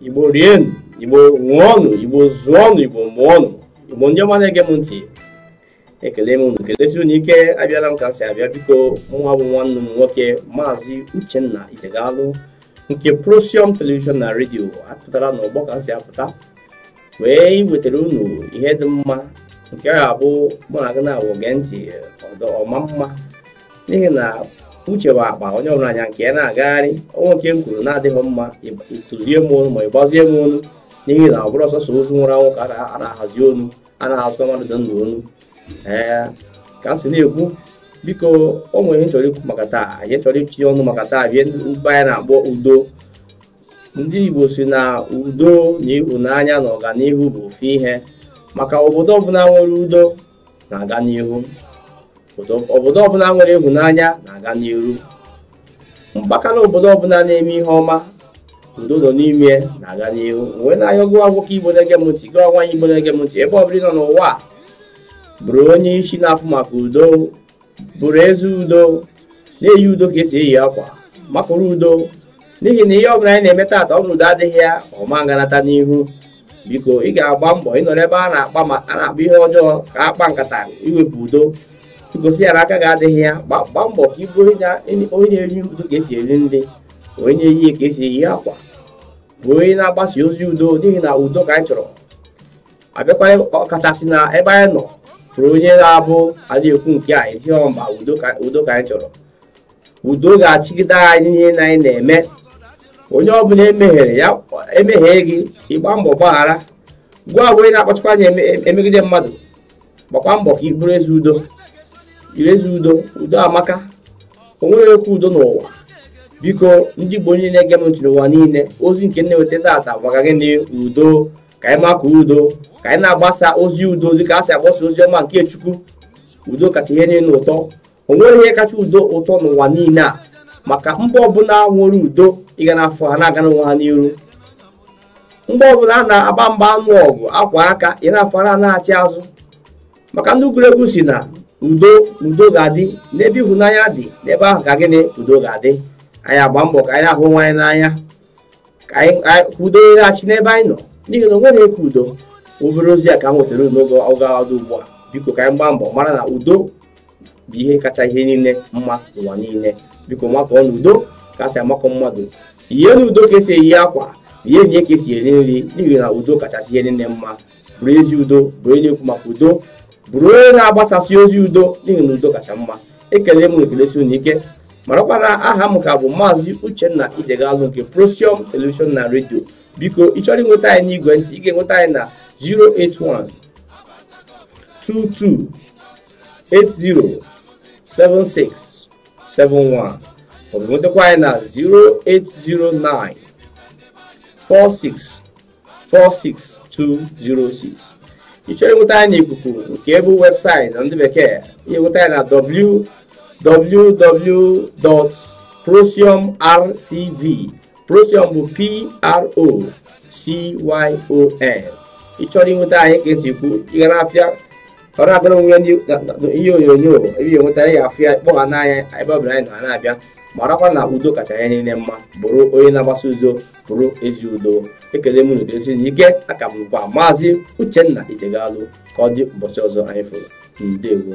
igbo rienụ igbo ṅụọnụ igbo zụọnụ igbo mụọnụ igbo ndị ọma na-ege m ntị ekele m unu kelesi unu ike abịala m ka m si abịa biko mụnwa bụ nwanne unu nwoke maazị uchenna itegalụ nke prosium televishọn na redio apụtara n'ọgbọ ka m si apụta wee iwetara unu ihe dị mma nke ga-abụ mụ na gị na-awụ gee ntị ọ dị ọma mma n'ihi na uche bụ akpa onye ọbụla nya nke ya na-agagharị o nwee nke m kwuru na-adịghị mma ị tụzie m onu ma ị gbazie m onu n'ihi na ọ bụrọ sọsọ ozu nwụrụ anwụ ka a na-ahazi onu a na-ahazikwa mmadụ dị ndụ onu ee ka m si na-ekwu biko o nwere ihe m chọrọ ikwu maka taa ihe anyị chọrọ itinye ọnụ maka taa bụ ihe mba anyị na-akpọ udo ndị Igbo sị na udo na ịhụnanya na ọganihu bụ ofu ihe maka obodo ọbụla nwere udo na-aga n'ihu obodo ọbụla nwere ịhụnanya na-aga n'ihu mpaghara obodo ọbụla a na-eme ihe ọma udo nọ n'ime na-aga n'ihu wee na-ayọ gị bụ nwoke igbo na-ege m ntị gị bụ nwaanyị igbo na-ege m ntị ebe ọbụla ị nọ n'ụwa bụrụ onye isi na-afụ maka udo bụrụ eze udo na-eyi udo ka esi eyi akwa makụrụ udo n'ihi na ihe ọbụla anyị na-eme taata ọ bụrụ udo adịghị ya ọ ma nganata n'ihu biko ị ga-agba mbọ ị nọrọ ebe a na-akpa ihe ọjọọ ka akpa nkata iwepụ udo i gosi ya na aka gị adịghị ya gbaa mbọ ka ị bụ onye na-eri udo ka esi eri nri onye na-eyi ka esi eyi akwa bụ onye na-agbasa ozi udo n'ihi na udo ka anyị chọrọ a bịakwa ọkachasị n'ebe anyị nọ bụrụ onye na-abụ adị ekwu nke a ị sị mba udo ka udo ka anyị chọrọ udo ga-achịgide anyị n'ihe na anyị na-eme onye ọbụla emehiere ya emehie gị ị gbaa mbọ gbaghara gwa onye na-akpachakwa anya eme- em- emegide mmadụ gbakwa mbọ ka ị bụrụ eze udo ire eze udo udo amaka o nwerọ ihe ka udo n'ụwa biko ndị igbo niile na-ege m ntị n'ụwa niile ozi nke m na-eweta taata maka gịnị udo ka anyị makụọ udo ka anyị na-agbasa ozi udo dịka esi agbasa ozi ọma nke chukwu udo kacha ihe niile ụtọ o nwerọ ihe kacha udo ụtọ n'ụwa niile a maka mba ọbụla nwere udo ị ga na-afụ ha na-aga n'onwe ha n'iru mba ọbụla a na-agba mgba anụ ọgụ akwa aka ị na-afụ ha na-achị azụ maka ndị egwuregwu sị na udo udo ga-adị n'ebe ịhụnanya dị n'ebe ahụ ka gịnị udo ga-adị anyị agba mbọ ka anyị hụ onwe anyị n'anya ka udo na-achị n'ebe anyị nọ n'ihi na o nwerọ ihe ka udo obere ozi a ka m wetara unu n'oge dị ugbu a biko ka anyị gbaa mbọ mara na udo bụ ihe kacha ihe niile mma n'ụwa niile biko makụọnụ udo ka esi amakụ mmadụ yienụ udo ka esi eyi akwa rienụ ya ka esi eri nri n'ihi na udo kachasị ihe niile mma bụrụ ezi udo bụrụ onye na-ekwu maka udo bụrụ onye na-agbasasị ozi udo n'ihi na udo kacha mma ekele m ekelesi unu ike marakwa na aha m ka bụ maazị uchenna ijegalụ nke procyon television na redio biko ị chọrọ inweta anyị n'igwe ntị ị ga-enweta anyị na 081 22 80 76 71 maọbụ nwetakwa anyị na 0809 46 46206 ị chọrọ inweta anyị n'ikuku nke bụ webụsaịtị na ndị bekee i nweta anyị na www.procyonrtv procyon bụ p r o c y o n ị chọrọ inweta anyị ka e si kwu ịga n'afịa ọ na-abịara onwe ya ihe onyonyo ebe ya enweta ya afụ ya kpọgha n'anya ebe ọ bụla anyị nọ na-abịa marakwa na udo kacha ihe niile mma bụrụ onye na-agbasa udo bụrụ ezi udo ekele m unu kelesi unu ike aha m bụkwa maazị uchenna ijegalụ ka ọ dị ụbọchị ọzọ anyị fụrụ ndewo